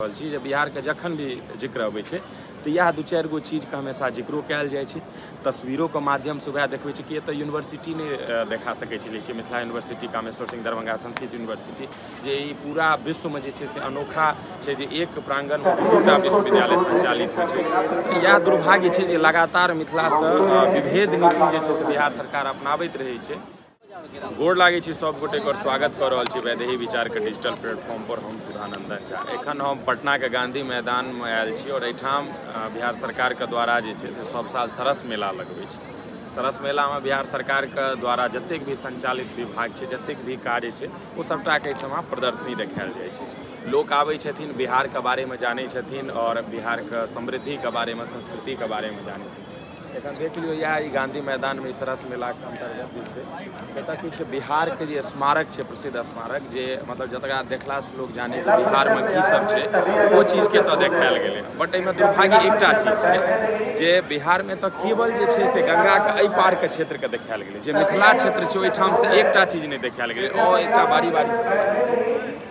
रहल छी जे बिहारके जखन भी जिक्र अबै छै तऽ इएह दू चारि गो चीजके हमेशा जिक्रो कयल जाइ छै तस्वीरोके माध्यमसँ वएह देखबै छै कि एतऽ यूनिवर्सिटी नहि देखा सकै छै लेकिन मिथिला यूनिवर्सिटी कामेश्वर सिंह दरभंगा संस्कृत यूनिवर्सिटी जे ई पूरा विश्वमे जे छै से अनोखा छै जे एक प्राङ्गणमे दूटा विश्वविद्यालय सञ्चालित होइ छै तऽ इएह दुर्भाग्य छै जे लगातार मिथिलासँ विभेद नीति जे छै से बिहार सरकार अपनाबैत रहै छै गोर लागै छी सब गोटे कर स्वागत कर रहल छी वैदेही विचार के डिजिटल प्लेटफॉर्म पर हम सुधानंदन झा एखन हम पटना के गांधी मैदान में आयल छी और एठाम बिहार सरकार के द्वारा जे छै से सब साल सरस मेला लगबै छै सरस मेला में बिहार सरकार के द्वारा जतेक भी संचालित विभाग छै जतेक भी कार्य छै ओ सबटा के एठाम प्रदर्शनी देखायल जाइ छै लोक आबै छथिन बिहार के बारे में जानै छथिन और बिहार के समृद्धि के बारे में संस्कृति के बारे में जानै एखन देख लियौ इएह ई गांधी मैदानमे ई सरस मेलाके अन्तर्गत जे छै एतय किछु बिहारके जे स्मारक छै प्रसिद्ध स्मारक जे मतलब जतरा देखलासँ लोक जानै जे बिहारमे की सब छै ओ चीजके एतय देखायल गेलै बट एहिमे दुर्भाग्य एकटा चीज छै जे बिहारमे एतय केवल जे छै से गंगाके एहि पारके क्षेत्रके देखायल गेलै जे मिथिला क्षेत्र छै ओहिठामसँ एकटा चीज नहि देखायल गेलै आओर एकटा बारी बारी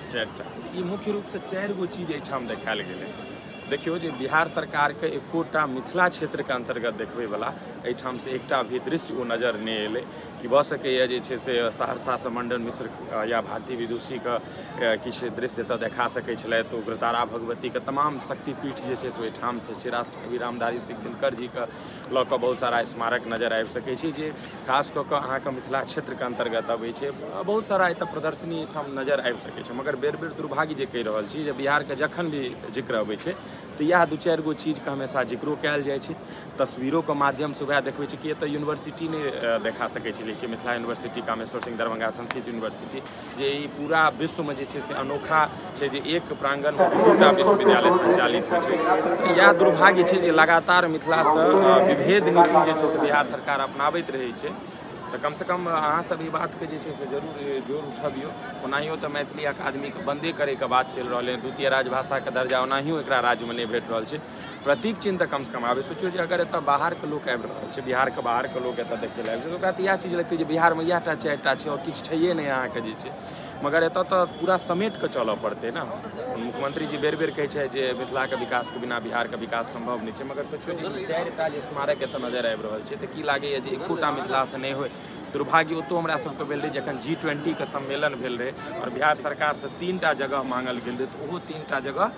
चारिटा ई मुख्य रूपसँ चारि गो चीज एहिठाम देखायल गेलै देखियौ जे बिहार सरकारके एकोटा मिथिला क्षेत्रके अन्तर्गत देखबैवला एहिठामसँ एकटा भी दृश्य ओ नजर नहि एलै कि भऽ सकैए जे छै से सहरसासँ मण्डन मिश्र अ, या भारती विदुषीके अ, किछु दृश्य एतऽ देखा सकै छलथि उग्रतारा भगवतीके तमाम शक्तिपीठ जे छै से ओहिठामसँ छै राष्ट्रकवि रामधारी सिंह दिनकर जीके लऽ कऽ बहुत सारा स्मारक नजर आबि सकै छी जे खास कऽ कऽ अहाँके मिथिला क्षेत्रके अन्तर्गत अबै छै बहुत सारा एतऽ प्रदर्शनी एहिठाम नजर आबि सकै छै मगर बेर बेर दुर्भाग्य जे कहि रहल छी जे बिहारके जखन भी जिक्र अबै छै तऽ इएह दू चारि गो चीजके हमेशा जिक्रो कयल जाइ छै तस्वीरोके माध्यमसँ वएह देखबै छै कि एतऽ यूनिवर्सिटी नहि देखा सकै छी लेकिन मिथिला यूनिवर्सिटी कामेश्वर सिंह दरभंगा संस्कृत यूनिवर्सिटी जे ई पूरा विश्वमे जे छै से अनोखा छै जे एक प्राङ्गणमे दूटा विश्वविद्यालय सञ्चालित होइ छै तऽ इएह दुर्भाग्य छै जे लगातार मिथिलासँ विभेद नीति जे छै से बिहार सरकार अपनाबैत रहै छै तऽ कमसँ कम अहाँसभ ई बातके जे छै से जरूर जोर उठबियौ ओनाहियो तऽ मैथिली अकादमीके बन्दे करैके बात चलि रहलै हँ द्वितीय राजभाषाके दर्जा ओनाहियो एकरा राज्यमे नहि भेट रहल छै प्रतीक चिन्ह तऽ कमसँ कम आबे सोचियो जे अगर एतऽ बाहरके लोक आबि रहल छै बिहारके बाहरके लोक एतऽ देखै लए आबि छै ओकरा तऽ इएह चीज लगतै जे बिहारमे इएह टा चारि टा छै आओर किछु छैहे नहि अहाँके जे छै मगर एतऽ तऽ पूरा समेट कऽ चलऽ पड़तै ने मुख्यमंत्री जी बेर बेर कहै छै जे मिथिलाके विकासके बिना बिहारके विकास सम्भव नहि छै मगर सोचियो जे ई चारि टा जे स्मारक एतऽ नजर आबि रहल छै तऽ की लागैए जे एकोटा मिथिलासँ नहि होय दुर्भाग्य ओतौ हमरा सबके भेल रहै जखन जी ट्वेंटीके सम्मेलन भेल रहै आओर बिहार सरकारसँ तीन टा जगह माँगल गेल रहै तऽ ओहो तीन टा जगह